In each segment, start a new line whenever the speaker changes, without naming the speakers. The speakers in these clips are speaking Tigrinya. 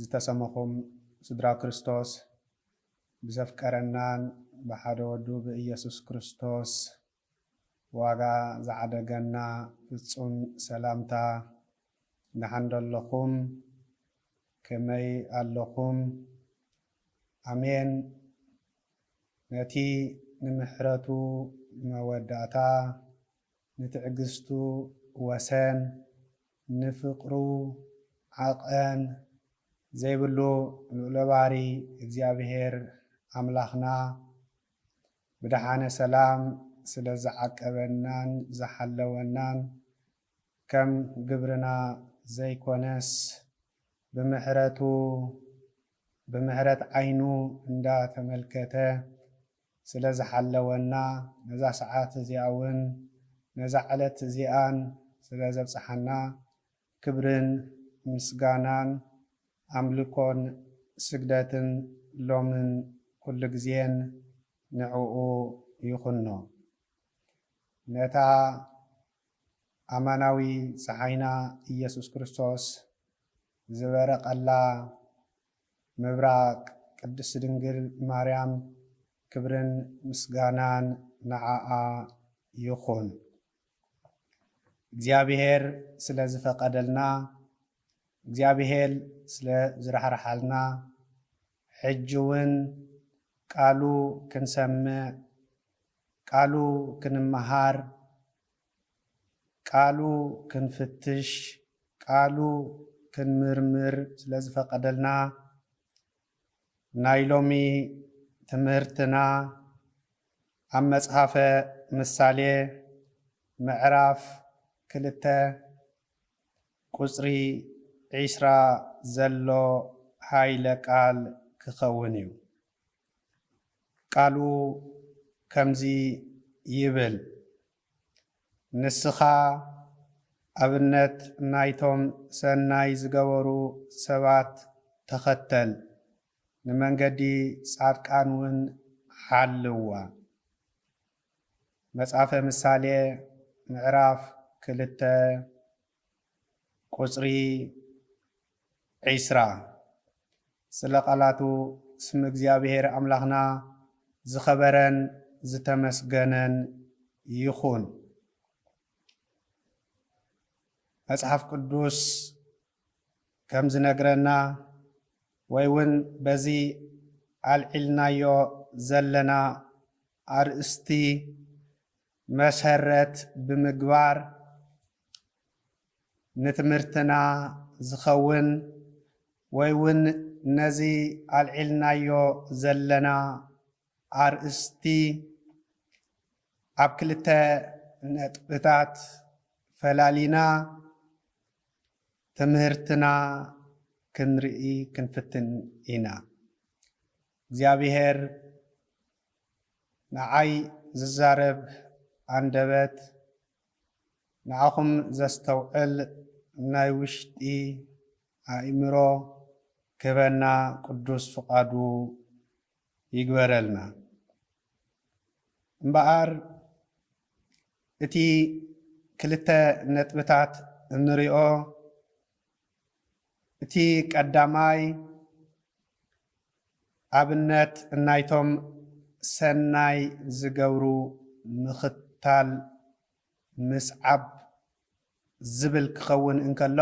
ዝተሰመኹም ስድራ ክርስቶስ ብዘፍቀረናን ብሓደ ወዱ ብኢየሱስ ክርስቶስ ዋጋ ዝዓደገና ፍጹም ሰላምታ ድሓን ዶ ኣለኹም ከመይ ኣለኹም ኣሜን ነቲ ንምሕረቱ መወዳእታ ንትዕግስቱ ወሰን፣ ንፍቕሩ ዓቐን ዘይብሉ ልዑለ ባህሪ እግዚኣብሔር ኣምላኽና ብደሓነ ሰላም ስለ ዝዓቀበናን ዝሓለወናን ከም ግብርና ዘይኮነስ ብምሕረቱ ብምሕረት ዓይኑ እንዳተመልከተ ስለ ዝሓለወና፣ ነዛ ሰዓት እዚኣውን ነዛ ዕለት እዚኣን ስለ ዘብጽሓና፣ ክብርን ምስጋናን ኣምልኮን ስግደትን ሎምን ኩሉ ግዜን ንዕኡ ይኹኖ። ነታ ኣማናዊ ጸሓይና ኢየሱስ ክርስቶስ ዝበረቐላ፣ ምብራቅ ቅድስት ድንግል ማርያም ክብርን ምስጋናን ንዓኣ ይኩን። እግዚኣብሔር ስለ ዝፈቀደልና እግዚኣብሔር ስለ ዝራሕራሓልና ሕጂ ውን ቃሉ ክንሰምዕ ቃሉ ክንመሃር ቃሉ ክንፍትሽ፣ ቃሉ ክንምርምር ስለ ዝፈቐደልና፣ ናይ ሎሚ ትምህርትና ኣብ መጽሓፈ ምሳሌ ምዕራፍ ክልተ ቁጽሪ ዕስራ ዘሎ ሃይለ ቃል ክኸውን እዩ። ቃሉ ከምዚ ይብል፣ ንስኻ ኣብነት ናይቶም ሰናይ ዝገበሩ ሰባት ተኸተል፣ ንመንገዲ ጻድቃን ውን ሓልዋ። መጽሐፈ ምሳሌ ምዕራፍ ክልተ ቁጽሪ ዕስራ፣ ስለ ቃላቱ ስም እግዚኣብሄር ኣምላኽና ዝኸበረን ዝተመስገነን ይኹን። መጽሓፍ ቅዱስ ከም ዝነግረና ወይ ውን በዚ ኣልዒልናዮ ዘለና ኣርእስቲ መሰረት ብምግባር ንትምህርትና ዝኸውን ወይ ውን ነዚ ኣልዒልናዮ ዘለና ኣርእስቲ ኣብ ክልተ ነጥብታት ፈላሊና ትምህርትና ክንርኢ ክንፍትን ኢና። እግዚኣብሔር ንዓይ ዝዛረብ ኣንደበት ንዓኹም ዘስተውዕል ናይ ውሽጢ ኣእምሮ ክህበና ቅዱስ ፍቃዱ ይግበረልና። እምበኣር እቲ ክልተ ነጥብታት እንሪኦ እቲ ቀዳማይ ኣብነት ናይቶም ሰናይ ዝገብሩ ምኽታል፣ ምስዓብ፣ ዝብል ክኸውን እንከሎ፣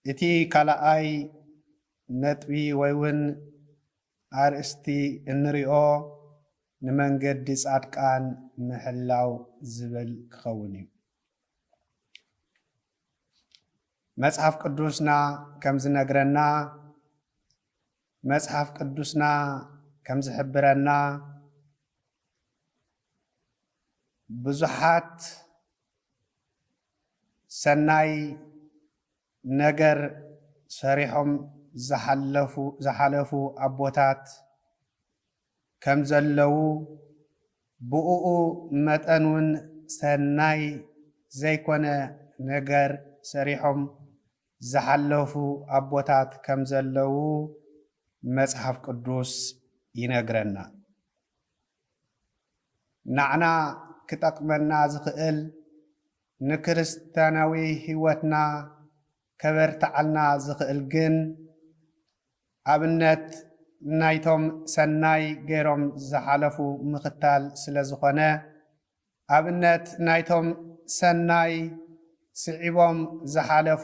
እቲ ካልኣይ ነጥቢ ወይ ውን ኣርእስቲ እንሪኦ ንመንገዲ ጻድቃን ምሕላው ዝብል ክኸውን እዩ። መጽሓፍ ቅዱስና ከም ዝነግረና መጽሓፍ ቅዱስና ከም ዝሕብረና ብዙሓት ሰናይ ነገር ሰሪሖም ዝሓለፉ ዝሓለፉ ኣቦታት ከምዘለዉ ብኡኡ መጠን ውን ሰናይ ዘይኮነ ነገር ሰሪሖም ዝሓለፉ ኣቦታት ከምዘለዉ መጽሓፍ ቅዱስ ይነግረና። ናዕና ክጠቅመና ዝክእል ንክርስትያናዊ ሂወትና ከበርትዓልና ዝኽእል ግን ኣብነት ናይቶም ሰናይ ገይሮም ዝሓለፉ ምኽታል ስለ ዝኾነ፣ ኣብነት ናይቶም ሰናይ ስዒቦም ዝሓለፉ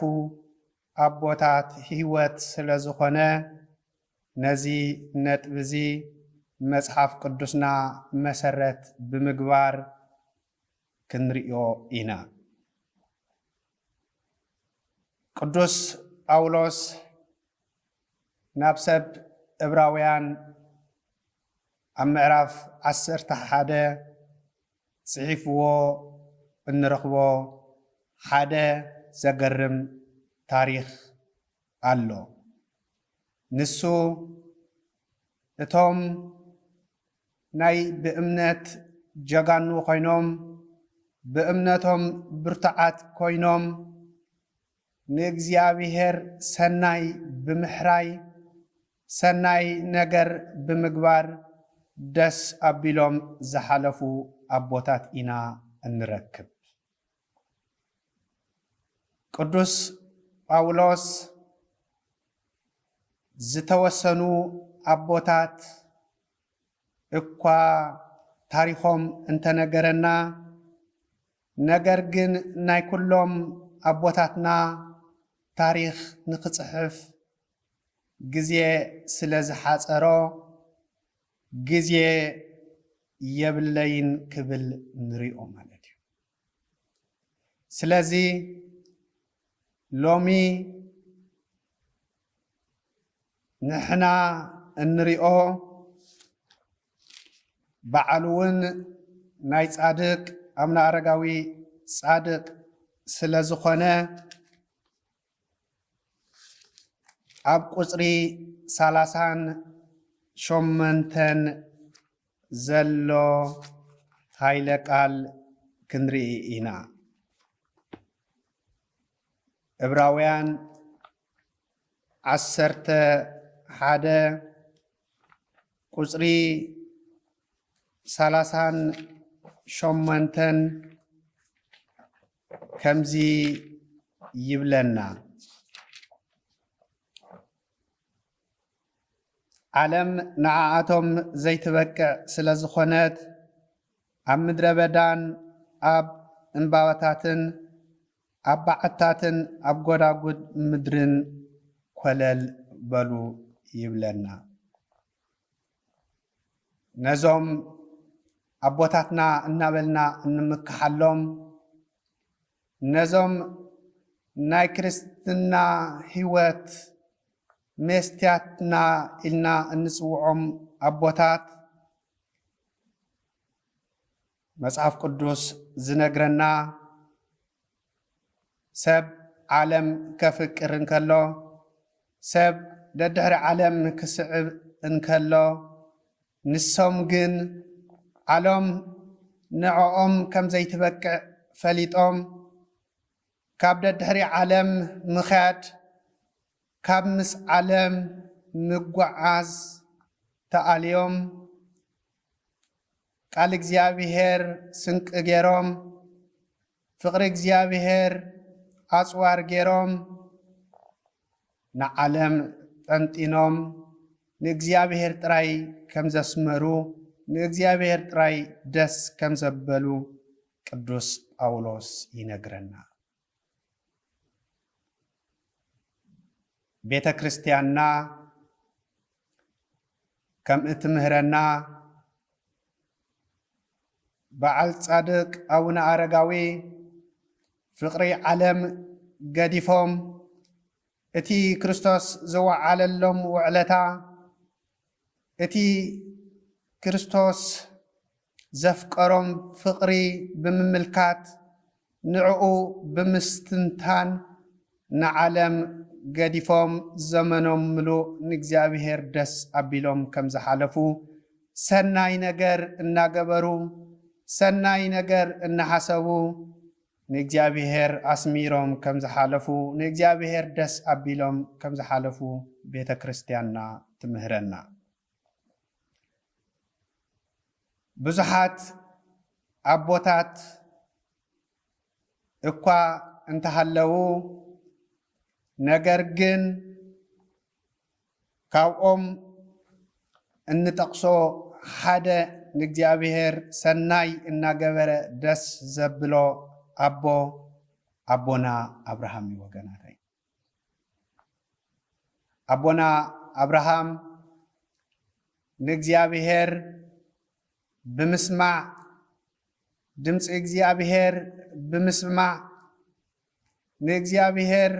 ኣቦታት ህይወት ስለ ዝኾነ፣ ነዚ ነጥቢ'ዚ መጽሓፍ ቅዱስና መሰረት ብምግባር ክንርእዮ ኢና። ቅዱስ ጳውሎስ ናብ ሰብ እብራውያን ኣብ ምዕራፍ ዓሰርተ ሓደ ጽሒፍዎ እንረኽቦ ሓደ ዘገርም ታሪኽ ኣሎ። ንሱ እቶም ናይ ብእምነት ጀጋኑ ኮይኖም ብእምነቶም ብርቱዓት ኮይኖም ንእግዚኣብሔር ሰናይ ብምሕራይ ሰናይ ነገር ብምግባር ደስ ኣቢሎም ዝሓለፉ ኣቦታት ኢና እንረክብ። ቅዱስ ጳውሎስ ዝተወሰኑ ኣቦታት እኳ ታሪኾም እንተነገረና ነገር ግን ናይ ኩሎም ኣቦታትና ታሪኽ ንክፅሕፍ ግዜ ስለ ዝሓፀሮ ግዜ የብለይን ክብል ንሪኦ ማለት እዩ። ስለዚ ሎሚ ንሕና እንሪኦ በዓል እውን ናይ ፃድቅ ኣብነ ኣረጋዊ ፃድቅ ስለዝኾነ ኣብ ቁፅሪ ሰላሳን ሸሞንተን ዘሎ ሃይለ ቃል ክንርኢ ኢና። ዕብራውያን ዓሰርተ ሓደ ቁፅሪ ሰላሳን ሸሞንተን ከምዚ ይብለና ዓለም ንዓኣቶም ዘይትበቅዕ ስለ ዝኾነት ኣብ ምድረ በዳን ኣብ እምባባታትን ኣብ በዓትታትን ኣብ ጐዳጕድ ምድርን ኰለል በሉ ይብለና። ነዞም ኣቦታትና እናበልና እንምክሓሎም ነዞም ናይ ክርስትና ሕይወት ሜስትያትና ኢልና እንጽውዖም ኣቦታት መጽሓፍ ቅዱስ ዝነግረና ሰብ ዓለም ከፍቅር እንከሎ ሰብ ደድሕሪ ዓለም ክስዕብ እንከሎ ንሶም ግን ዓሎም ንዕኦም ከም ዘይትበቅዕ ፈሊጦም ካብ ደድሕሪ ዓለም ምኽያድ ካብ ምስ ዓለም ምጓዓዝ ተኣልዮም ቃል እግዚኣብሔር ስንቂ ገይሮም፣ ፍቕሪ እግዚኣብሔር ኣጽዋር ገይሮም፣ ንዓለም ጠንጢኖም ንእግዚኣብሔር ጥራይ ከም ዘስመሩ፣ ንእግዚኣብሔር ጥራይ ደስ ከም ዘበሉ ቅዱስ ጳውሎስ ይነግረና። ቤተ ክርስቲያንና ከም እትምህረና በዓል ጻድቅ ኣቡነ ኣረጋዊ ፍቅሪ ዓለም ገዲፎም እቲ ክርስቶስ ዝወዓለሎም ውዕለታ እቲ ክርስቶስ ዘፍቀሮም ፍቕሪ ብምምልካት ንዕኡ ብምስትንታን ንዓለም ገዲፎም ዘመኖም ምሉእ ንእግዚኣብሔር ደስ ኣቢሎም ከም ዝሓለፉ ሰናይ ነገር እናገበሩ ሰናይ ነገር እናሓሰቡ ንእግዚኣብሔር ኣስሚሮም ከም ዝሓለፉ ንእግዚኣብሔር ደስ ኣቢሎም ከም ዝሓለፉ ቤተ ክርስትያንና ትምህረና። ብዙሓት ኣቦታት እኳ እንተሃለዉ ነገር ግን ካብኦም እንጠቅሶ ሓደ ንእግዚኣብሔር ሰናይ እናገበረ ደስ ዘብሎ ኣቦ ኣቦና ኣብርሃም እዩ ወገናተይ። ኣቦና ኣብርሃም ንእግዚኣብሔር ብምስማዕ ድምፂ እግዚኣብሔር ብምስማዕ ንእግዚኣብሔር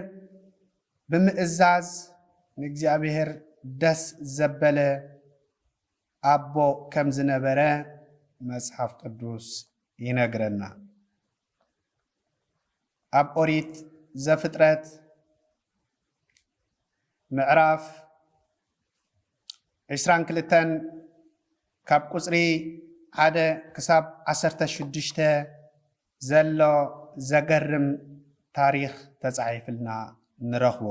ብምእዛዝ ንእግዚኣብሔር ደስ ዘበለ ኣቦ ከም ዝነበረ መጽሓፍ ቅዱስ ይነግረና። ኣብ ኦሪት ዘፍጥረት ምዕራፍ ዕስራን ክልተን ካብ ቁፅሪ ሓደ ክሳብ ዓሰርተ ሽዱሽተ ዘሎ ዘገርም ታሪኽ ተጻሒፍልና ንረኽቦ።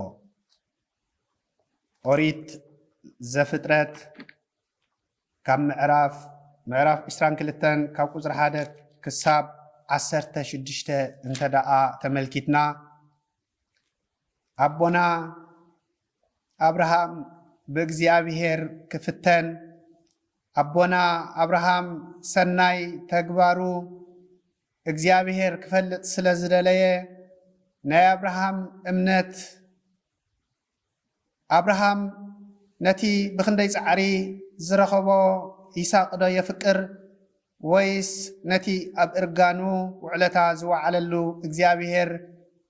ኦሪት ዘፍጥረት ካብ ምዕራፍ ምዕራፍ ዕስራን ክልተን ካብ ቁጽሪ ሓደ ክሳብ ዓሰርተ ሽዱሽተ እንተደኣ ተመልኪትና ኣቦና ኣብርሃም ብእግዚኣብሔር ክፍተን ኣቦና ኣብርሃም ሰናይ ተግባሩ እግዚኣብሔር ክፈልጥ ስለ ዝደለየ ናይ ኣብርሃም እምነት ኣብርሃም ነቲ ብኽንደይ ጻዕሪ ዝረኸቦ ይስሃቅዶ የፍቅር ወይስ ነቲ ኣብ እርጋኑ ውዕለታ ዝወዓለሉ እግዚኣብሄር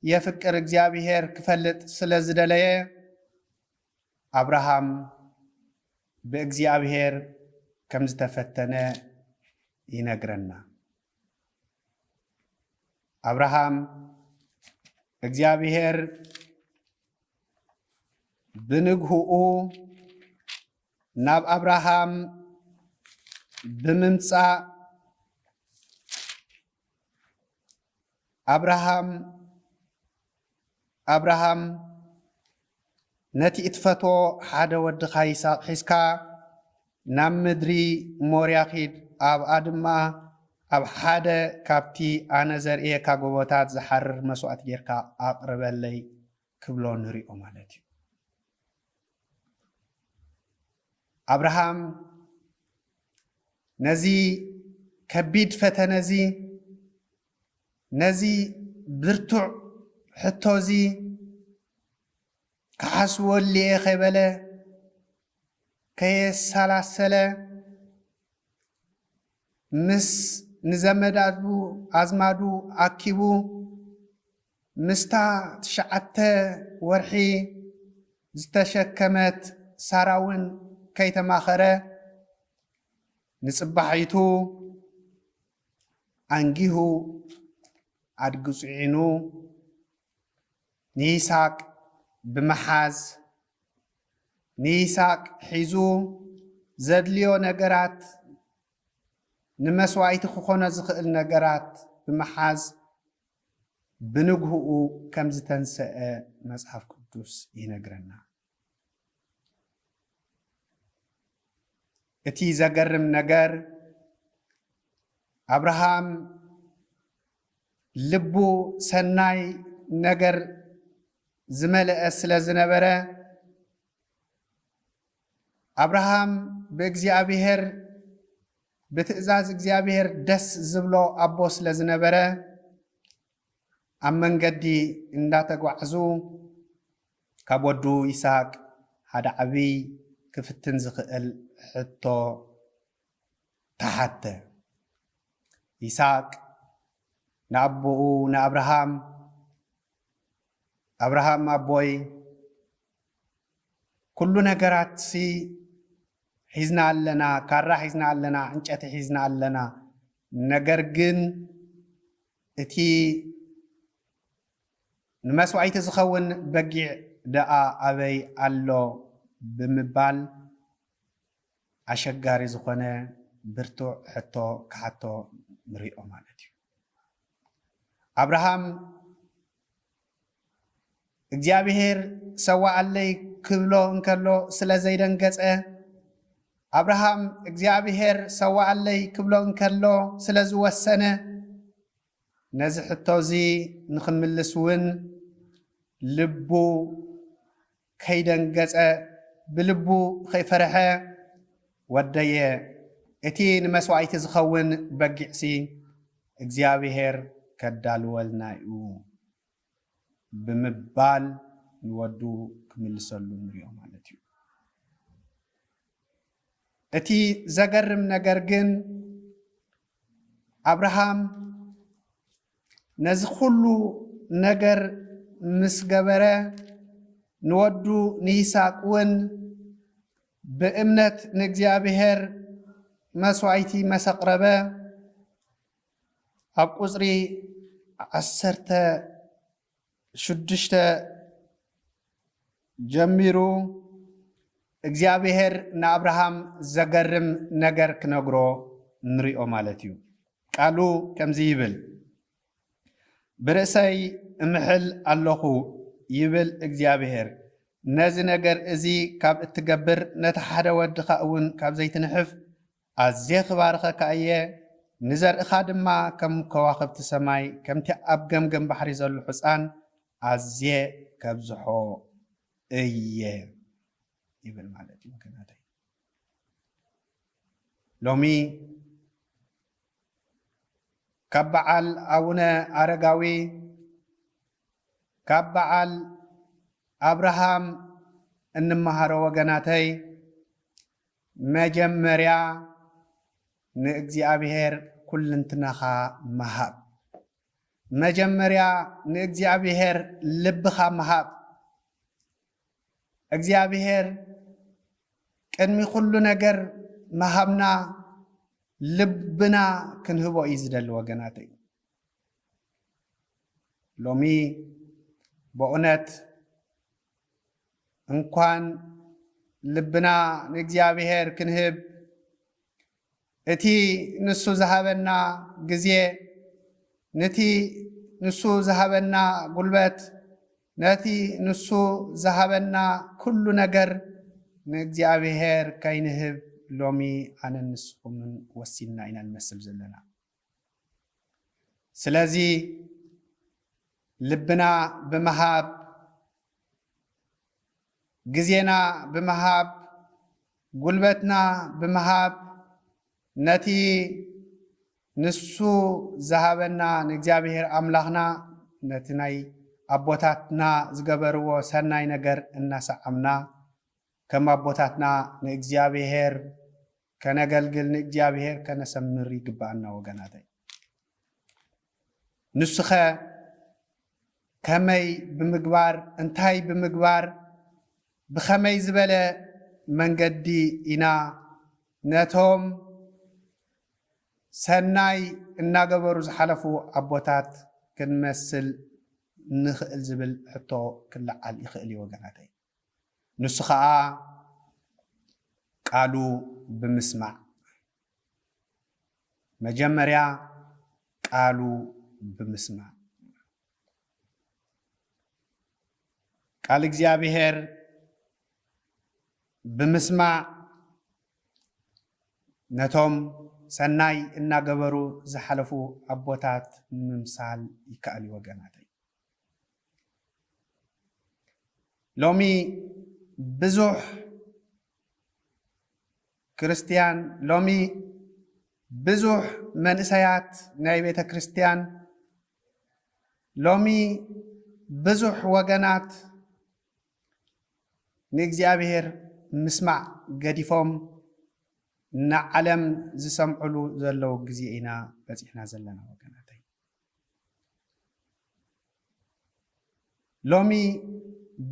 የፍቅር እግዚኣብሄር ክፈልጥ ስለ ዝደለየ ኣብርሃም ብእግዚኣብሄር ከም ዝተፈተነ ይነግረና። ኣብርሃም እግዚኣብሔር ብንግህኡ ናብ ኣብርሃም ብምምፃእ ኣብርሃም ኣብርሃም፣ ነቲ እትፈትዎ ሓደ ወድኻ ይስሃቅ ሒዝካ ናብ ምድሪ ሞርያ ኺድ፣ ኣብኣ ድማ ኣብ ሓደ ኻብቲ ኣነ ዘርእየካ ጎቦታት ዚሓርር መስዋእቲ ጌርካ ኣቕርበለይ ኪብሎ ንርኦ ማለት እዩ። ኣብርሃም ነዚ ከቢድ ፈተነ እዚ ነዚ ብርቱዕ ሕቶ'ዚ ክሓስቦ ኣልየ ከይበለ፣ ከየሰላሰለ፣ ምስ ንዘመዳቱ ኣዝማዱ ኣኪቡ፣ ምስታ ትሽዓተ ወርሒ ዝተሸከመት ሳራ'ውን ከይተማኸረ፣ ንጽባሒቱ፣ ኣንጊሁ ኣድጊ ጽዒኑ ንይስሃቅ ብምሓዝ ንይስሃቅ ሒዙ ዘድልዮ ነገራት ንመስዋኢቲ ክኾኖ ዝኽእል ነገራት ብምሓዝ ብንግህኡ ከም ዝተንሰአ መጽሓፍ ቅዱስ ይነግረና። እቲ ዘገርም ነገር አብርሃም ልቡ ሰናይ ነገር ዝመልአ ስለ ዝነበረ አብርሃም ብእግዚኣብሔር ብትእዛዝ እግዚኣብሔር ደስ ዝብሎ አቦ ስለ ዝነበረ ኣብ መንገዲ እንዳተጓዕዙ ካብ ወዱ ይስሃቅ ሓደ ዓብይ ክፍትን ዝኽእል ሕቶ ተሓተ። ይስሃቅ ንኣቦኡ ንኣብርሃም ኣብርሃም ኣቦይ ኩሉ ነገራትሲ ሒዝና ኣለና፣ ካራ ሒዝና ኣለና፣ ዕንጨቲ ሒዝና ኣለና፣ ነገር ግን እቲ ንመስዋኢቲ ዝኸውን በጊዕ ደኣ ኣበይ ኣሎ ብምባል ኣሸጋሪ ዝኾነ ብርቱዕ ሕቶ ክሓቶ ንሪኦ ማለት እዩ። ኣብርሃም እግዚኣብሄር ሰዋኣለይ ክብሎ እንከሎ ስለ ዘይደንገጸ፣ ኣብርሃም እግዚኣብሄር ሰዋኣለይ ክብሎ እንከሎ ስለ ዝወሰነ፣ ነዚ ሕቶ'ዚ ንኽምልስ እውን ልቡ ከይደንገጸ ብልቡ ኸይፈርሐ፣ ወደየ፣ እቲ ንመስዋኢቲ ዚኸውን በጊዕሲ፣ እግዚኣብሄር ኬዳልወልና'ዩ ብምባል ንወዱ ኪምልሰሉ ንርእዮ ማለት'ዩ። እቲ ዘገርም ነገር ግን፣ ኣብርሃም፣ ነዚ ኩሉ ነገር ምስ ገበረ ንወዱ ንይስሐቅ እውን ብእምነት ንእግዚኣብሔር መስዋእቲ መሰቅረበ ኣብ ቁፅሪ ዓሰርተ ሽዱሽተ ጀሚሩ እግዚኣብሔር ንኣብርሃም ዘገርም ነገር ክነግሮ ንሪኦ ማለት እዩ። ቃሉ ከምዚ ይብል ብርእሰይ እምሕል ኣለኹ ይብል እግዚኣብሔር ነዚ ነገር እዚ ካብ እትገብር ነቲ ሓደ ወድኻ እውን ካብ ዘይትንሕፍ ኣዝየ ኽባርኸካ እየ፣ ንዘርእኻ ድማ ከም ከዋኽብቲ ሰማይ፣ ከምቲ ኣብ ገምገም ባሕሪ ዘሎ ሕጻን ኣዝየ ከብዝሖ እየ ይብል ማለት እዩ። ወገናተይ ሎሚ ካብ በዓል ኣቡነ ኣረጋዊ ካብ በዓል ኣብርሃም እንመሃሮ ወገናተይ መጀመርያ ንእግዚኣብሔር ኩልንትናኻ ምሃብ። መጀመርያ ንእግዚኣብሔር ልብኻ ምሃብ። እግዚኣብሔር ቅድሚ ኩሉ ነገር ምሃብና ልብና ክንህቦ እዩ ዝደሊ ወገናተይ። ሎሚ በእውነት እንኳን ልብና ንእግዚኣብሔር ክንህብ እቲ ንሱ ዝሃበና ግዜ ነቲ ንሱ ዝሃበና ጉልበት ነቲ ንሱ ዝሃበና ኩሉ ነገር ንእግዚኣብሔር ከይንህብ ሎሚ ኣነን ንስኹምን ወሲንና ኢና ንመስል ዘለና። ስለዚ ልብና ብምሃብ ግዜና ብምሃብ ጉልበትና ብምሃብ ነቲ ንሱ ዝሃበና ንእግዚኣብሔር ኣምላኽና ነቲ ናይ ኣቦታትና ዝገበርዎ ሰናይ ነገር እናሰዓምና ከም ኣቦታትና ንእግዚኣብሔር ከነገልግል ንእግዚኣብሔር ከነሰምር ይግብኣና ወገናተይ ንሱኸ ከመይ ብምግባር እንታይ ብምግባር ብኸመይ ዝበለ መንገዲ ኢና ነቶም ሰናይ እናገበሩ ዝሓለፉ ኣቦታት ክንመስል ንኽእል ዝብል ሕቶ ክለዓል ይኽእል እዩ ወገናተይ ንሱ ኸኣ ቃሉ ብምስማዕ መጀመርያ ቃሉ ብምስማዕ ቃል እግዚኣብሔር ብምስማዕ ነቶም ሰናይ እናገበሩ ዝሓለፉ ኣቦታት ንምምሳል ይከኣል እዩ ወገናተይ። ሎሚ ብዙሕ ክርስትያን ሎሚ ብዙሕ መንእሰያት ናይ ቤተ ክርስትያን ሎሚ ብዙሕ ወገናት ንእግዚኣብሔር ምስማዕ ገዲፎም ንዓለም ዝሰምዕሉ ዘለዉ ግዜ ኢና በፂሕና ዘለና ወገናተይ ሎሚ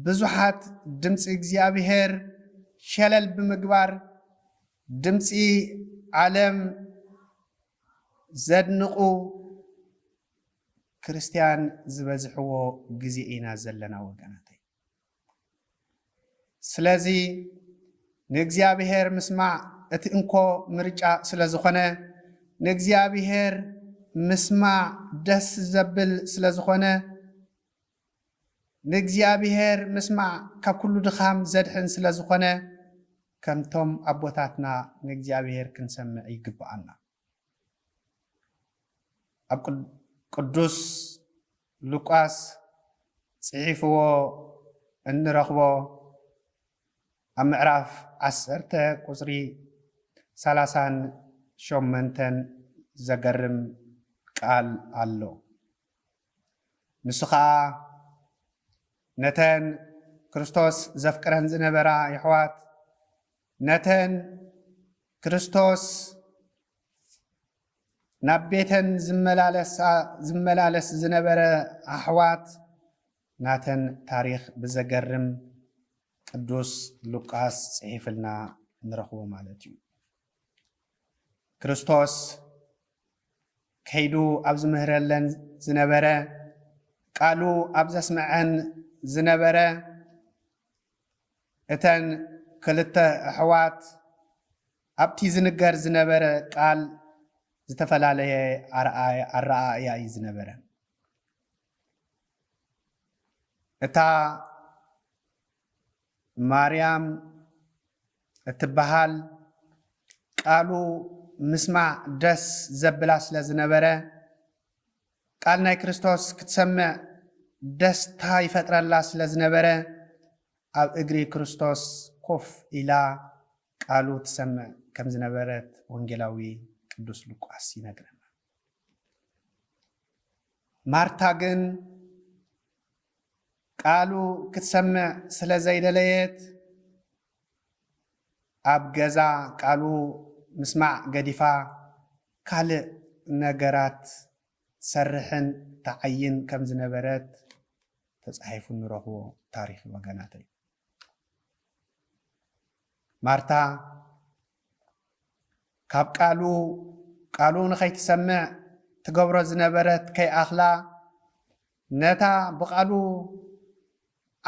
ብዙሓት ድምፂ እግዚኣብሄር ሸለል ብምግባር ድምፂ ዓለም ዘድንቑ ክርስትያን ዝበዝሕዎ ግዜ ኢና ዘለና ወገናተይ። ስለዚ ንእግዚኣብሔር ምስማዕ እቲ እንኮ ምርጫ ስለ ዝኾነ ንእግዚኣብሔር ምስማዕ ደስ ዘብል ስለ ዝኾነ ንእግዚኣብሔር ምስማዕ ካብ ኩሉ ድኻም ዘድሕን ስለ ዝኾነ ከምቶም ኣቦታትና ንእግዚኣብሔር ክንሰምዕ ይግብኣና። ኣብ ቅዱስ ሉቃስ ጽሒፍዎ እንረኽቦ ኣብ ምዕራፍ ዓሰርተ ቁጽሪ ሰላሳን ሸመንተን ዘገርም ቃል ኣሎ። ንሱ ኸኣ ነተን ክርስቶስ ዘፍቅረን ዝነበራ የሕዋት ነተን ክርስቶስ ናብ ቤተን ዝመላለስ ዝነበረ ኣሕዋት ናተን ታሪኽ ብዘገርም ቅዱስ ሉቃስ ጽሒፍልና ንረኽቦ ማለት እዩ። ክርስቶስ ከይዱ ኣብ ዝምህረለን ዝነበረ ቃሉ ኣብ ዘስምዐን ዝነበረ እተን ክልተ ኣሕዋት ኣብቲ ዝንገር ዝነበረ ቃል ዝተፈላለየ ኣረኣእያ እዩ ዝነበረን። እታ ማርያም እትበሃል ቃሉ ምስማዕ ደስ ዘብላ ስለ ዝነበረ ቃል ናይ ክርስቶስ ክትሰምዕ ደስታ ይፈጥረላ ስለ ዝነበረ ኣብ እግሪ ክርስቶስ ኮፍ ኢላ ቃሉ ትሰምዕ ከም ዝነበረት ወንጌላዊ ቅዱስ ሉቃስ ይነግረና። ማርታ ግን ቃሉ ክትሰምዕ ስለ ዘይደለየት ኣብ ገዛ ቃሉ ምስማዕ ገዲፋ ካልእ ነገራት ትሰርሕን ትዓይን ከም ዝነበረት ተጻሒፉ እንረኽቦ ታሪኽ እዩ ወገናተይ። ማርታ ካብ ቃሉ ቃሉ ንኸይትሰምዕ ትገብሮ ዝነበረት ከይኣኽላ ነታ ብቓሉ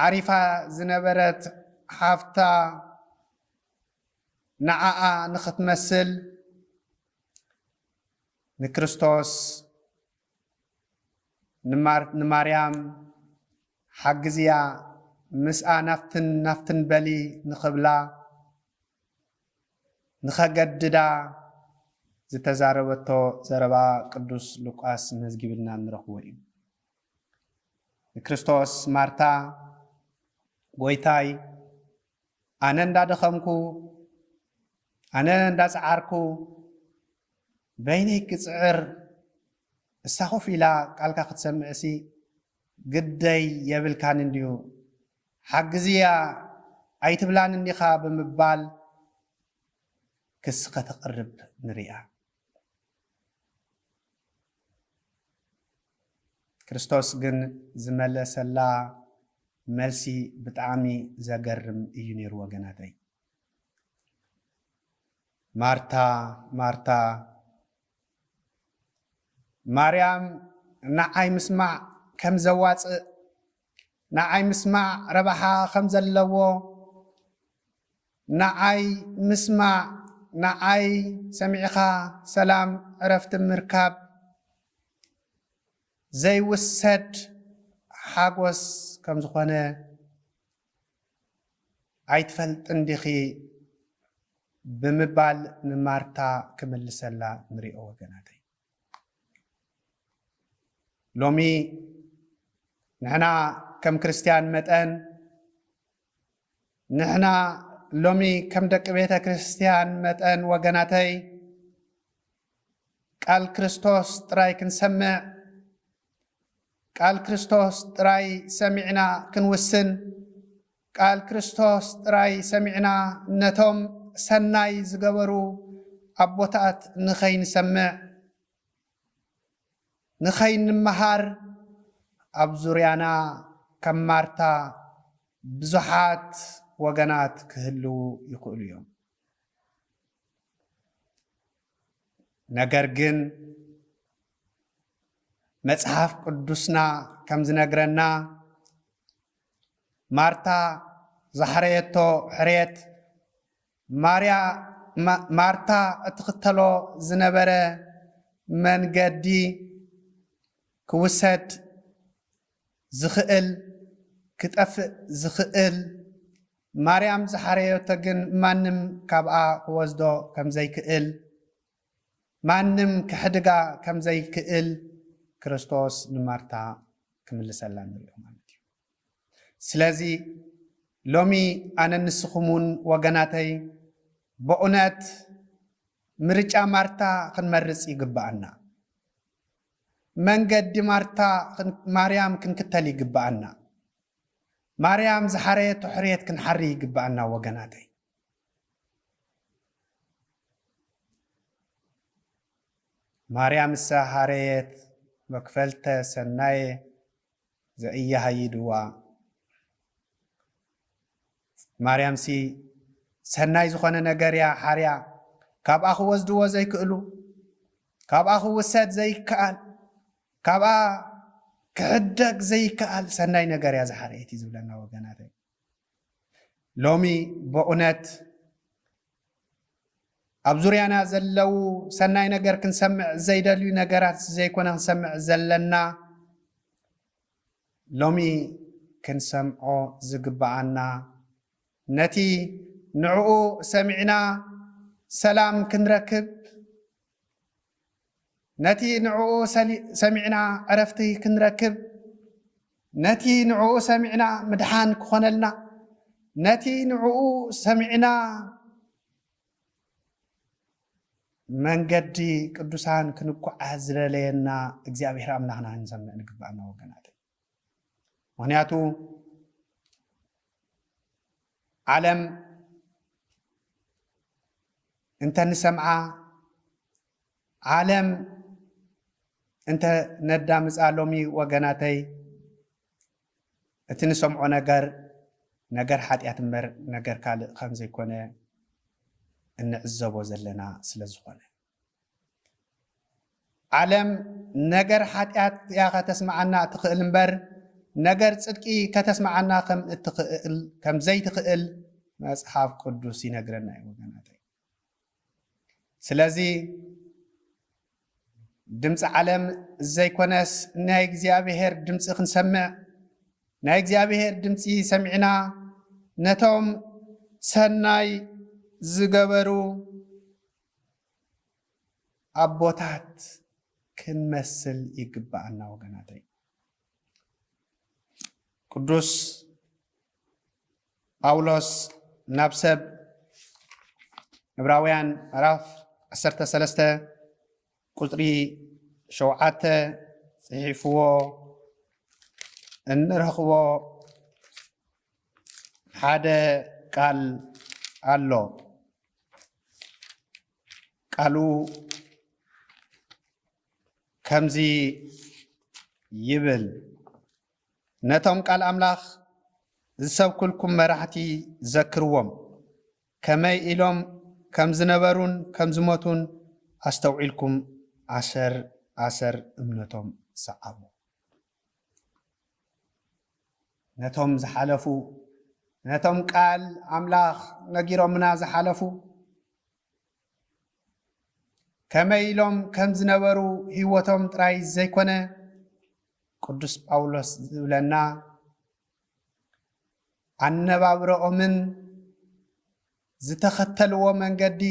ዓሪፋ ዝነበረት ሓፍታ ንዓኣ ንኽትመስል ንክርስቶስ ንማርያም ሓግዝያ ምስኣ ናፍትን ናፍትን በሊ ንኽብላ ንኸገድዳ ዝተዛረበቶ ዘረባ ቅዱስ ሉቃስ መዝጊብልና እንረኽቦ እዩ። ንክርስቶስ ማርታ ጎይታይ ኣነ እንዳደኸምኩ ኣነ እንዳጸዓርኩ በይነይ ክጽዕር እሳ ኮፍ ኢላ ቃልካ ክትሰምዕሲ ግደይ የብልካን እንድዩ ሓግዝያ ኣይትብላንን ዲኻ ብምባል ክሲ ከተቕርብ ንሪኣ። ክርስቶስ ግን ዝመለሰላ መልሲ ብጣዕሚ ዘገርም እዩ ነይሩ ወገናተይ። ማርታ ማርታ ማርያም ንዓይ ምስማዕ ከም ዘዋጽእ ንዓይ ምስማዕ ረብሓ ከም ዘለዎ ንዓይ ምስማዕ ንዓይ ሰሚዕኻ ሰላም ዕረፍቲ ምርካብ ዘይውሰድ ሓጎስ ከም ዝኾነ ኣይትፈልጥን ዲኺ ብምባል ንማርታ ክምልሰላ ንሪኦ ወገናተይ። ሎሚ ንሕና ከም ክርስትያን መጠን ንሕና ሎሚ ከም ደቂ ቤተ ክርስትያን መጠን ወገናተይ ቃል ክርስቶስ ጥራይ ክንሰምዕ ቃል ክርስቶስ ጥራይ ሰሚዕና ክንውስን ቃል ክርስቶስ ጥራይ ሰሚዕና ነቶም ሰናይ ዝገበሩ ኣቦታት ንኸይንሰምዕ፣ ንኸይንመሃር ኣብ ዙርያና ከም ማርታ ብዙሓት ወገናት ክህልዉ ይኽእሉ እዮም። ነገር ግን መጽሓፍ ቅዱስና ከም ዝነግረና ማርታ ዝሓረየቶ ሕርየት ማርታ እትኽተሎ ዝነበረ መንገዲ ክውሰድ ዝኽእል ክጠፍእ ዝኽእል ማርያም ዝሓረየቶ ግን ማንም ካብኣ ክወስዶ ከምዘይክእል ማንም ከሕድጋ ከም ዘይክእል ክርስቶስ ንማርታ ክምልሰላ ንሪኦ ማለት እዩ። ስለዚ ሎሚ ኣነን ንስኹምውን ወገናተይ በኡነት ምርጫ ማርታ ክንመርጽ ይግብኣና። መንገዲ ማርታ ማርያም ክንክተል ይግብኣና። ማርያም ዝሓረየቶ ሕርየት ክንሓሪ ይግብኣና ወገናተይ። ማርያምሰ ሀረየት መክፈልተ ሰናየ ዘኢያሀይድዋ ማርያምሲ ሰናይ ዝኾነ ነገር እያ ሓርያ ካብኣ ክወስድዎ ዘይክእሉ ካብኣ ክውሰድ ዘይከኣል ካብኣ ክሕደግ ዘይከኣል ሰናይ ነገር እያ ዝሓረየት እዩ ዝብለና ወገናተይ ሎሚ በኡነት ኣብ ዙርያና ዘለው ሰናይ ነገር ክንሰምዕ ዘይደልዩ ነገራት ዘይኮነ ክንሰምዕ ዘለና ሎሚ ክንሰምዖ ዝግብኣና ነቲ ንዕኡ ሰሚዕና ሰላም ክንረክብ ነቲ ንዕኡ ሰሚዕና ዕረፍቲ ክንረክብ፣ ነቲ ንዕኡ ሰሚዕና ምድሓን ክኾነልና፣ ነቲ ንዕኡ ሰሚዕና መንገዲ ቅዱሳን ክንጓዓዝ ዝደለየና እግዚኣብሔር ኣምላኽና ክንሰምዕ ንግባእና ወገናተይ። ምክንያቱ ዓለም እንተንሰምዓ ዓለም እንተ ነዳምፃ ሎሚ ወገናተይ እቲ ንሰምዖ ነገር ነገር ሓጢኣት እምበር ነገር ካልእ ከም ዘይኮነ እንዕዘቦ ዘለና ስለ ዝኾነ ዓለም ነገር ሓጢኣት እያ ከተስምዓና እትኽእል እምበር ነገር ጽድቂ ከተስምዓና ከም እትኽእል ከም ዘይትኽእል መጽሓፍ ቅዱስ ይነግረና እዩ ወገናተይ። ስለዚ ድምፂ ዓለም ዘይኮነስ ናይ እግዚኣብሄር ድምፂ ክንሰምዕ ናይ እግዚኣብሄር ድምፂ ሰሚዕና ነቶም ሰናይ ዝገበሩ ኣቦታት ክንመስል ይግብኣና ወገናተይ። ቅዱስ ጳውሎስ ናብ ሰብ ዕብራውያን ምዕራፍ ዓሰርተ ሰለስተ ቁፅሪ ሸውዓተ ፅሒፍዎ እንረኽቦ ሓደ ቃል ኣሎ። ቃሉ ከምዚ ይብል፣ ነቶም ቃል ኣምላኽ ዝሰብኩልኩም መራሕቲ ዘክርዎም። ከመይ ኢሎም ከም ዝነበሩን ከም ዝሞቱን ኣስተውዒልኩም ኣሰር ኣሰር እምነቶም ሰዓቡ። ነቶም ዝሓለፉ ነቶም ቃል ኣምላኽ ነጊሮምና ዝሓለፉ ከመይ ኢሎም ከም ዝነበሩ ህይወቶም ጥራይ ዘይኮነ ቅዱስ ጳውሎስ ዝብለና ኣነባብረኦምን ዝተኸተልዎ መንገዲ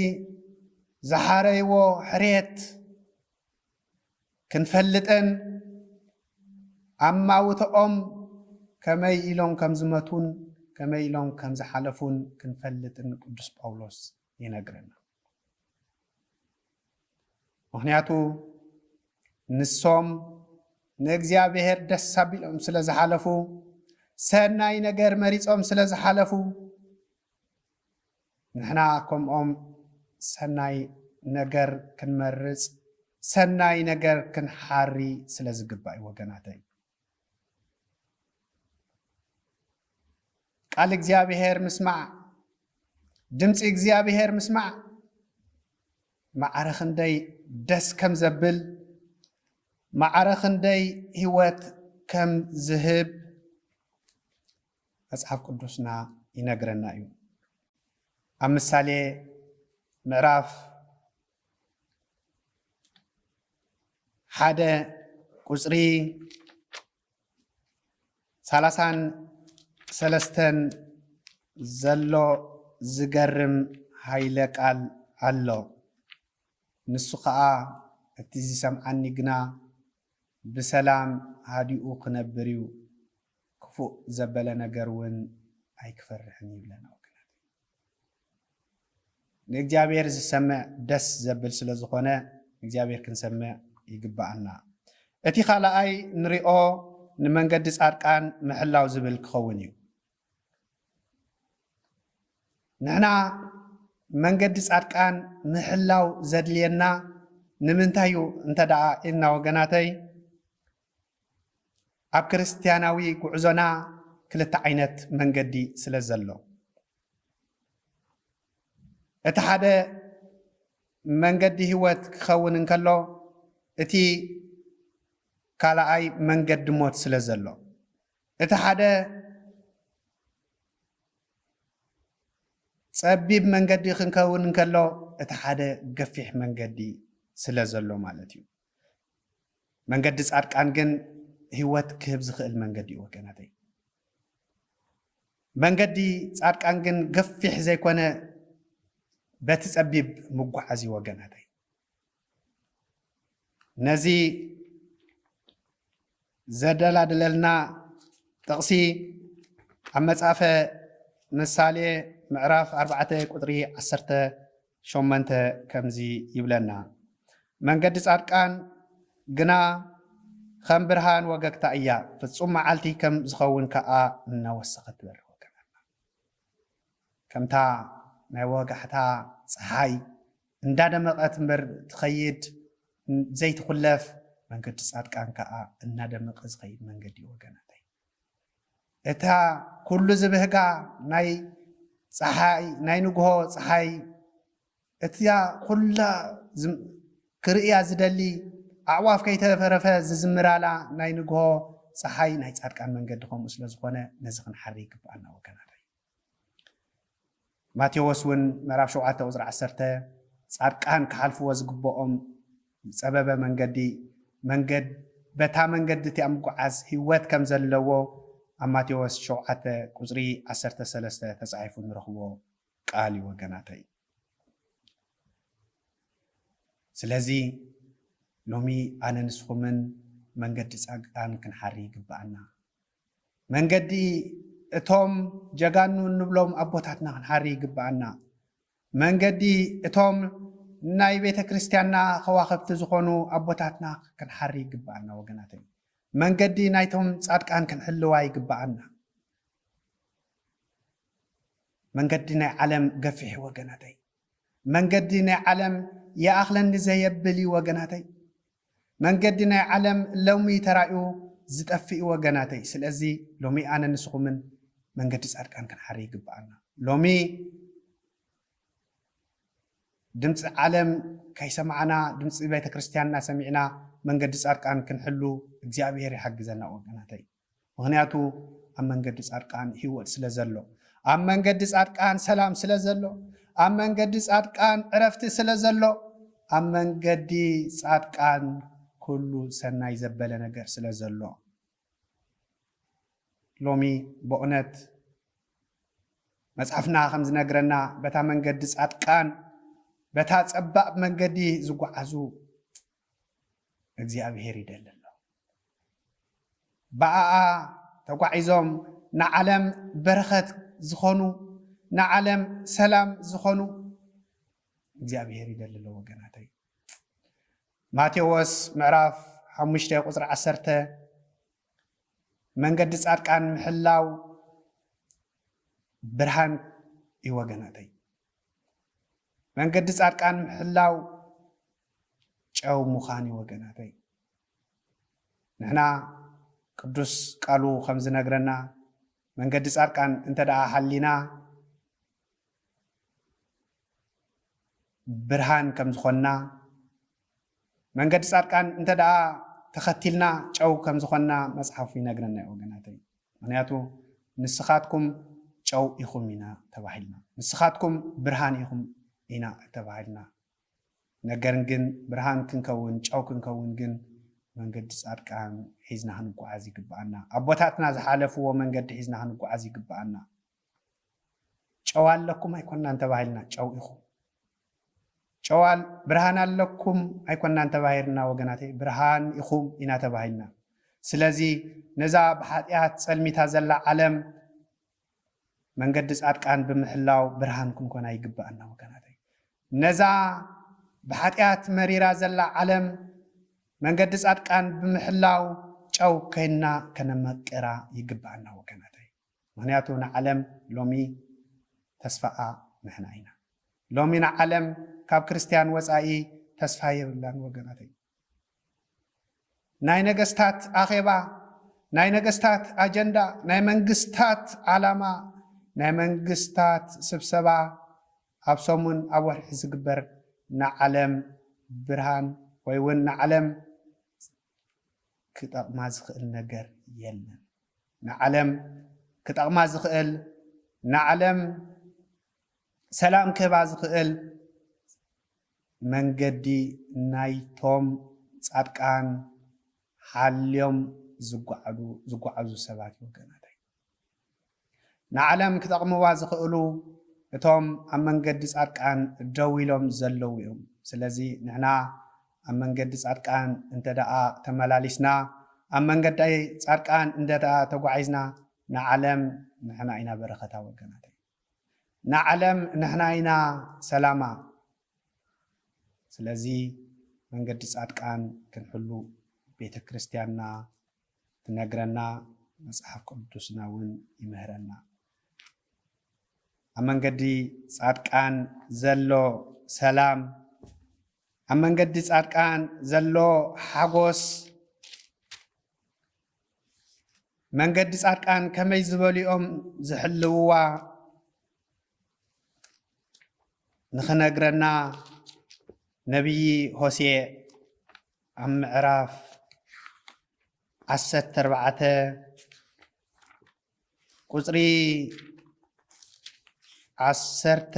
ዝሓረይዎ ሕርየት ክንፈልጥን ኣብ ማውተኦም ከመይ ኢሎም ከም ዝመቱን ከመይ ኢሎም ከም ዝሓለፉን ክንፈልጥን ቅዱስ ጳውሎስ ይነግረና። ምክንያቱ ንሶም ንእግዚኣብሔር ደስ ኣቢሎም ስለ ዝሓለፉ ሰናይ ነገር መሪጾም ስለ ዝሓለፉ ንሕና ከምኦም ሰናይ ነገር ክንመርጽ ሰናይ ነገር ክንሓሪ ስለ ዝግባእ እዩ ወገናተይ ቃል እግዚኣብሔር ምስማዕ ድምፂ እግዚኣብሔር ምስማዕ ማዕረ ክንደይ ደስ ከም ዘብል ማዕረ ክንደይ ህይወት ከም ዝህብ መጽሓፍ ቅዱስና ይነግረና እዩ ኣብ ምሳሌ ምዕራፍ ሓደ ቁፅሪ ሰላሳን ሰለስተን ዘሎ ዝገርም ሃይለ ቃል ኣሎ ንሱ ከዓ እቲ ዝሰምዓኒ ግና ብሰላም ሃዲኡ ክነብር እዩ ክፉእ ዘበለ ነገር እውን ኣይክፈርሕን ይብለና ወገናት ንእግዚኣብሔር ዝሰምዕ ደስ ዘብል ስለ ዝኾነ እግዚኣብሔር ክንሰምዕ ይግብኣና። እቲ ካልኣይ ንሪኦ ንመንገዲ ጻድቃን ምሕላው ዝብል ክኸውን እዩ። ንሕና መንገዲ ጻድቃን ምሕላው ዘድልየና ንምንታይ እዩ እንተ ደኣ ኢልና ወገናተይ ኣብ ክርስትያናዊ ጉዕዞና ክልተ ዓይነት መንገዲ ስለ ዘሎ እቲ ሓደ መንገዲ ህይወት ክኸውን እንከሎ እቲ ካልኣይ መንገዲ ሞት ስለ ዘሎ እቲ ሓደ ጸቢብ መንገዲ ክንከውን እንከሎ እቲ ሓደ ገፊሕ መንገዲ ስለ ዘሎ ማለት እዩ መንገዲ ጻድቃን ግን ህይወት ክህብ ዝኽእል መንገዲ እዩ ወገናተይ። መንገዲ ጻድቃን ግን ገፊሕ ዘይኮነ በቲ ጸቢብ ምጓዓዝ እዩ ወገናተይ። ነዚ ዘደላድለልና ጥቕሲ ኣብ መጽሐፈ ምሳሌ ምዕራፍ ኣርባዕተ ቁጥሪ ዓሰርተ ሸሞንተ ከምዚ ይብለና መንገዲ ጻድቃን ግና ከም ብርሃን ወገግታ እያ ፍጹም መዓልቲ ከም ዝኸውን ከኣ እናወሰኸት ትበርህ ከምታ ናይ ወጋሕታ ጸሓይ እንዳደመቐት እምበር ትኸይድ ዘይትኹለፍ መንገዲ ጻድቃን ከኣ እናደመቐ ዝኸይድ መንገዲ እዩ ወገናተይ። እታ ኩሉ ዝብህጋ ናይ ጸሓይ ናይ ንግሆ ጸሓይ እትያ ኩላ ክርእያ ዝደሊ ኣዕዋፍ ከይተረፈረፈ ዝዝምራላ ናይ ንግሆ ጸሓይ ናይ ጻድቃን መንገዲ ከምኡ ስለ ዝኾነ ነዚ ክንሓሪ ይግብኣና ወገናተይ። ማቴዎስ እውን ምዕራፍ ሸውዓተ ቁጽሪ ዓሰርተ ጻድቃን ክሓልፍዎ ዝግብኦም ዝጸበበ መንገዲ መንገድ በታ መንገዲ እቲኣ ምጉዓዝ ህይወት ከም ዘለዎ ኣብ ማቴዎስ ሸውዓተ ቁጽሪ ዓሰርተ ሰለስተ ተጻሒፉ ንረኽቦ ቃል እዩ ወገናተይ። ስለዚ ሎሚ ኣነ ንስኹምን መንገዲ ጻግታን ክንሓሪ ይግብኣና። መንገዲ እቶም ጀጋኑ እንብሎም ኣቦታትና ክንሓሪ ይግብኣና። መንገዲ እቶም ናይ ቤተ ክርስቲያንና ከዋኸብቲ ዝኾኑ ኣቦታትና ክንሓሪ ይግብኣና ወገናተይ። መንገዲ ናይቶም ጻድቃን ክንሕልዋ ይግብኣና። መንገዲ ናይ ዓለም ገፊሕ'ዩ ወገናተይ መንገዲ ናይ ዓለም ይኣኽለኒ ዘየብል'ዩ ወገናተይ መንገዲ ናይ ዓለም ሎሚ ተራእዩ ዝጠፍእ'ዩ ወገናተይ ስለዚ ሎሚ ኣነ ንስኹምን መንገዲ ጻድቃን ክንሓሪ ይግብኣና ሎሚ ድምጺ ዓለም ከይሰማዕና ድምጺ ቤተክርስትያንና ሰሚዕና መንገዲ ጻድቃን ክንሕሉ እግዚኣብሄር ይሓግዘና ወገናተይ ምክንያቱ ኣብ መንገዲ ፃድቃን ሂወት ስለ ዘሎ ኣብ መንገዲ ፃድቃን ሰላም ስለ ዘሎ ኣብ መንገዲ ፃድቃን ዕረፍቲ ስለ ዘሎ ኣብ መንገዲ ፃድቃን ኩሉ ሰናይ ዘበለ ነገር ስለ ዘሎ ሎሚ በእውነት መፅሓፍና ከም ዝነግረና በታ መንገዲ ፃድቃን በታ ፀባብ መንገዲ ዝጓዓዙ እግዚኣብሔር ይደሊ ኣሎ። ብኣኣ ተጓዒዞም ንዓለም በረኸት ዝኾኑ ንዓለም ሰላም ዝኾኑ እግዚኣብሔር ይደሊ ኣሎ ወገናተይ። ማቴዎስ ምዕራፍ ሓሙሽተ ቁፅሪ ዓሰርተ መንገዲ ጻድቃን ምሕላው ብርሃን እዩ ወገናተይ። መንገዲ ፃድቃን ምሕላው ጨው ምዃን እዩ ወገናተይ። ንሕና ቅዱስ ቃሉ ከም ዝነግረና መንገዲ ፃድቃን እንተ ደኣ ሓሊና ብርሃን ከም ዝኾንና መንገዲ ፃድቃን እንተደኣ ተኸቲልና ጨው ከም ዝኾንና መፅሓፉ ይነግረና እዩ ወገናተይ ምኽንያቱ ንስኻትኩም ጨው ኢኹም ኢና ተባሂልና ንስኻትኩም ብርሃን ኢኹም ኢና ተባሂልና ነገር ግን ብርሃን ክንከውን ጨው ክንከውን ግን መንገዲ ፃድቃን ሒዝና ክንጓዓዝ ይግብኣና ኣቦታትና ዝሓለፍዎ መንገዲ ሒዝና ክንጓዓዝ ይግብኣና ጨው ኣለኩም ኣይኮናን ተባሂልና ጨው ኢኹም። ጨው ብርሃን ኣለኩም ኣይኮናን ተባሂርና ወገናተይ ብርሃን ኢኹም ኢና ተባሂልና። ስለዚ ነዛ ብሓጢኣት ጸልሚታ ዘላ ዓለም መንገዲ ጻድቃን ብምሕላው ብርሃን ክንኮና ይግብኣና ወገናተይ። ነዛ ብሓጢኣት መሪራ ዘላ ዓለም መንገዲ ጻድቃን ብምሕላው ጨው ኮይና ከነመቅራ ይግብኣና ወገናተይ። ምክንያቱ ንዓለም ሎሚ ተስፋኣ ንሕና ኢና ሎሚ ንዓለም ካብ ክርስትያን ወጻኢ ተስፋ የብላን ወገናተይ ናይ ነገስታት ኣኼባ ናይ ነገስታት ኣጀንዳ ናይ መንግስታት ዓላማ ናይ መንግስታት ስብሰባ ኣብ ሰሙን ኣብ ወርሒ ዝግበር ንዓለም ብርሃን ወይ እውን ንዓለም ክጠቕማ ዝኽእል ነገር የለን ንዓለም ክጠቕማ ዝኽእል ንዓለም ሰላም ክህባ ዝኽእል መንገዲ ናይቶም ጻድቃን ሓልዮም ዝጓዓዙ ሰባት ወገናታይ ንዓለም ክጠቕምዋ ዝኽእሉ እቶም ኣብ መንገዲ ጻድቃን ደው ኢሎም ዘለዉ እዮም ስለዚ ንሕና ኣብ መንገዲ ጻድቃን እንተደኣ ተመላሊስና፣ ኣብ መንገዲ ጻድቃን እንተደኣ ተጓዒዝና፣ ንዓለም ንሕና ኢና በረኸታ ወገናተይ። ንዓለም ንሕና ኢና ሰላማ። ስለዚ መንገዲ ጻድቃን ክንሕሉ ቤተ ክርስቲያንና ትነግረና፣ መጽሓፍ ቅዱስና እውን ይምህረና። ኣብ መንገዲ ጻድቃን ዘሎ ሰላም ኣብ መንገዲ ፃድቃን ዘሎ ሓጎስ መንገዲ ፃድቃን ከመይ ዝበሉ እዮም ዝሕልውዋ ንኽነግረና ነቢዪ ሆሴዕ ኣብ ምዕራፍ ዓሰርተ ኣርባዕተ ቁፅሪ ዓሰርተ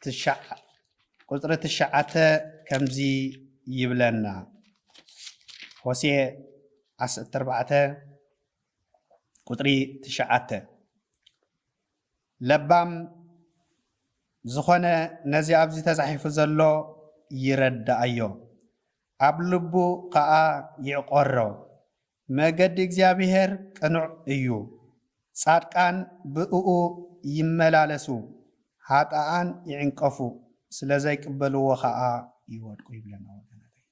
ትሽዓ ቁፅሪ ትሽዓተ ከምዚ ይብለና ሆሴ ዓሰርተ ኣርባዕተ ቁፅሪ ትሽዓተ ለባም ዝኾነ ነዚ ኣብዚ ተፃሒፉ ዘሎ ይረዳኣዮ ኣብ ልቡ ከዓ ይዕቆሮ መገዲ እግዚኣብሄር ቅኑዕ እዩ፣ ጻድቃን ብእኡ ይመላለሱ፣ ኃጥኣን ይዕንቀፉ፣ ስለ ዘይቅበልዎ ኸኣ ይወድቁ ይብለና። ወገናተይ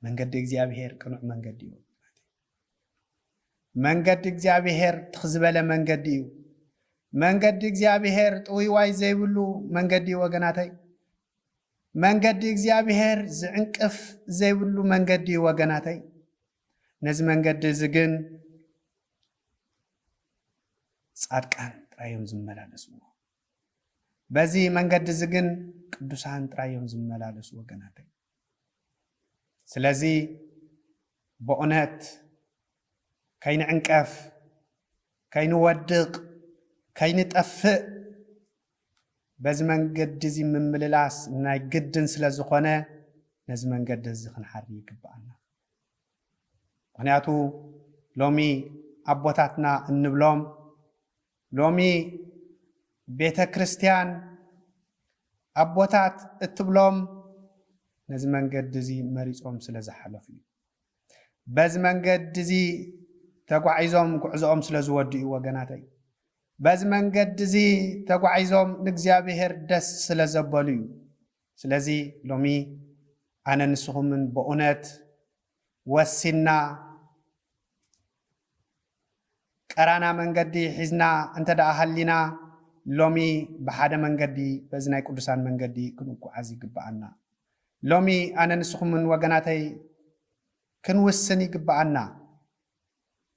መንገዲ እግዚኣብሄር ቅኑዕ መንገዲ እዩ። መንገዲ እግዚኣብሄር ትኽ ዝበለ መንገዲ እዩ። መንገዲ እግዚኣብሄር ጥውይዋይ ዘይብሉ መንገዲ እዩ። ወገናተይ መንገዲ እግዚኣብሔር ዝዕንቅፍ ዘይብሉ መንገዲ እዩ ወገናተይ። ነዚ መንገዲ እዚ ግን ጻድቃን ጥራይ እዮም ዝመላለስዎ። በዚ መንገዲ እዚ ግን ቅዱሳን ጥራይ እዮም ዝመላለሱ ወገናተይ። ስለዚ በእውነት ከይንዕንቀፍ፣ ከይንወድቕ፣ ከይንጠፍእ በዚ መንገዲ እዚ ምምልላስ ናይ ግድን ስለ ዝኾነ ነዚ መንገዲ እዚ ክንሓሪ ይግብኣና። ምኽንያቱ ሎሚ ኣቦታትና እንብሎም ሎሚ ቤተ ክርስቲያን ኣቦታት እትብሎም ነዚ መንገዲ እዚ መሪፆም ስለ ዝሓለፉ እዩ። በዚ መንገዲ እዚ ተጓዒዞም ጉዕዞኦም ስለ ዝወድኡ ወገናተይ በዚ መንገዲ እዚ ተጓዒዞም ንእግዚኣብሄር ደስ ስለ ዘበሉ እዩ። ስለዚ ሎሚ ኣነ ንስኹምን በኡነት ወሲንና ቀራና መንገዲ ሒዝና እንተ ደኣ ሃሊና ሎሚ ብሓደ መንገዲ በዚ ናይ ቅዱሳን መንገዲ ክንጓዓዝ ይግበኣና። ሎሚ ኣነ ንስኹምን ወገናተይ ክንውስን ይግበኣና።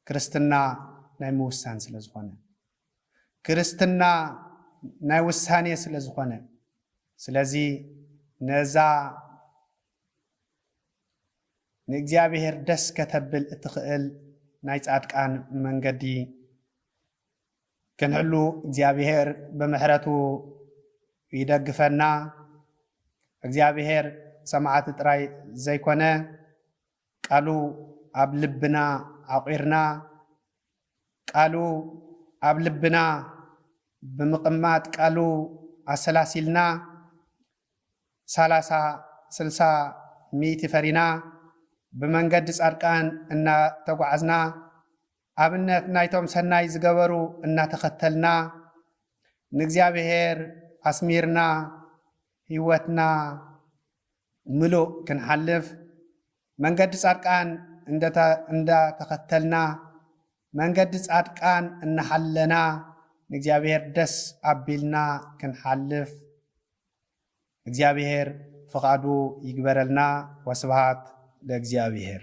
ክርስትና ናይ ምውሳን ስለ ዝኾነ። ክርስትና ናይ ውሳኔ ስለ ዝኾነ። ስለዚ ነዛ ንእግዚኣብሔር ደስ ከተብል እትኽእል ናይ ጻድቃን መንገዲ ክንሕሉ እግዚኣብሔር ብምሕረቱ ይደግፈና። እግዚኣብሔር ሰማዕቲ ጥራይ ዘይኮነ ቃሉ ኣብ ልብና ዓቝርና ቃሉ ኣብ ልብና ብምቕማጥ ቃሉ ኣሰላሲልና ሳላሳ ስልሳ ሚእቲ ፈሪና ብመንገዲ ጻድቃን እናተጓዓዝና ኣብነት ናይቶም ሰናይ ዝገበሩ እናተኸተልና ንእግዚኣብሔር ኣስሚርና ሕይወትና ምሉእ ክንሓልፍ መንገዲ ፃድቃን እንዳ ተኸተልና መንገዲ ፃድቃን እናሓለና ንእግዚኣብሔር ደስ ኣቢልና ክንሓልፍ እግዚኣብሔር ፍቓዱ ይግበረልና ወስብሃት ለእግዚኣብሔር።